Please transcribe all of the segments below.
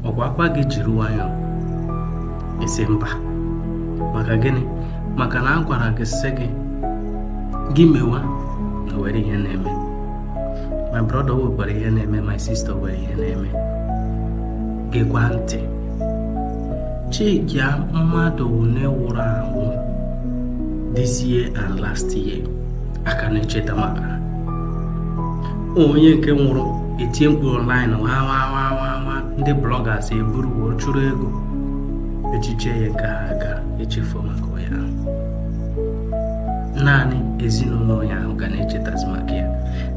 ọkwa a gwa gị jiri nwayọọ ị sị mba maka gịnị maka na a gwara gị sị gị gị mewa na o nwerọ ihe na-eme my brother nwekwara ihe na-eme my sister nwere ihe na-eme gekwa ntị chekia mmadụ one nwụrụ anwụ this year and last year a ka na-echeta maka onye nke nwụrụ e tie mkpu online nwa ndị bloggers eburu wee chụrụ ego echiche ya nke ha ga-echefu maka ya naanị ezinụlọ ya ahụ ga na-echetazi maka ya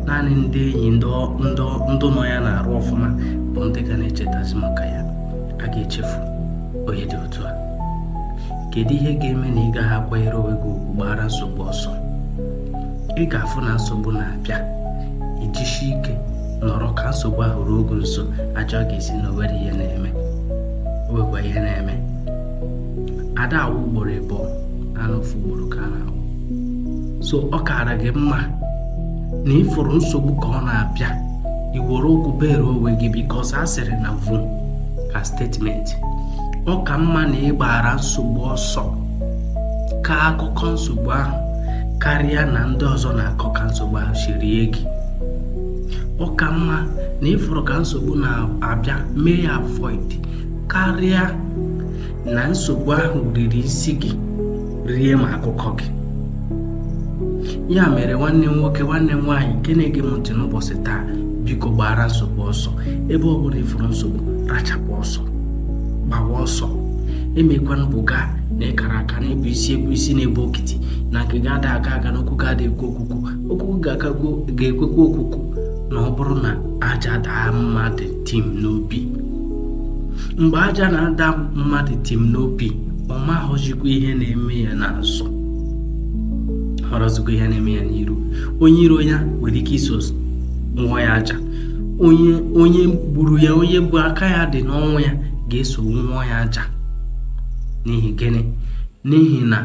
naanị ndị enyi ndị nọ ya n'arụ ọfụma bụ ndị ga na-echetazi maka ya a ga-echefu onye dị otu a kedu ihe ga-eme na ị gaghị akwanyere onwe gị ugwu gbaara nsogbu ọsọ ị ga-afụ na nsogbu na-abịa ị jisi ike nọrọ ka nsogbu ahụ ruo gị nso a jụọ gị ị sị na o nwerọ ihe na-eme o nwekwa ihe na-eme a da anwụ ugboro ịbụọ naanị ofu ugboro ka a na-anwụ so ọ kaara gị mma na ị fụrụ nsogbu ka ọ na-abịa i were ụkwụ bere onwe gị because a sịrị na vum ka statement ọ ka mma na ị gbaara nsogbu ọsọ kọọ akụkọ nsogbu ahụ karịa na ndị ọzọ na-akọ ka nsogbu ahụ si rie gị ọ ka mma na ị fụrụ ka nsogbu na-abịa mee ya avoid karịa na nsogbu ahụ riri isi gị rie ma akụkọ gị ya mere nwanne m nwoke nwanne m nwaanyị nke na-ege m ntị n'ụbọchị taa biko gbaara nsogbu ọsọ ebe ọ bụla ị fụrụ nsogbu rachapụ ọsọ gbawa ọsọ emekwana buga na ị kara aka na ị bụ isi egwu isi na-ebu okiti na nke gị ada aga aga na okwu gị ada ekwe okwukwu okwu ga-ekwekwa okwukwu na ọ bụrụ na aja daa mmadụ tim n'obi mgbe aja na-ada mmadụ tim n'obi ọ maghọzikwa ihe na-eme ya n'azụ hụrọzikwa ihe na-eme ya n'iru onye iro ya nwere ike iso wụọ ya aja onye gburu ya onye bụ aka ya dị n'ọnwụ ya ga-eso wụọ ya aja n'ihi gịnị n'ihi na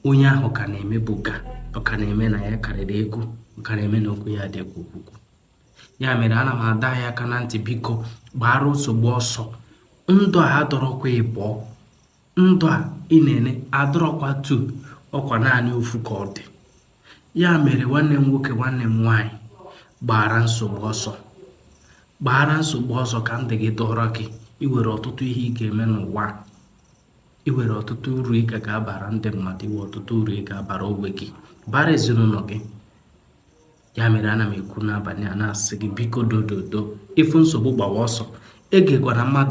onye ahụ ka na-eme buga ọ ka na-eme na ya karịrị ego ọ ka na-eme na okwu ya ada ekwe okwukwu ya mere ana m adọ anyị aka na ntị biko gbaara nsogbu ọsọ ndụ a adịrọkwa ịbụọ ndụ a ị na-ele adịrọkwa two ọkwa naanị ofu ka ọ dị ya mere nwanne m nwoke nwanne m nwaanyị gbaara nsogbu ọsọ gbaara nsogbu ọsọ ka ndụ gị dọrọ gị i nwere ọtụtụ ihe ị ga-eme n'ụwa i nwere ọtụtụ uru ị ga ga-abara ndị mmadụ i nwe ọtụtụ uru ị ga-abara onwe gị bara ezinụlọ gị ya mere ana m ekwu n'abalị a na-asị gị biko dododo ị fụ nsogbu gbawa ọsọ egekwana mmadụ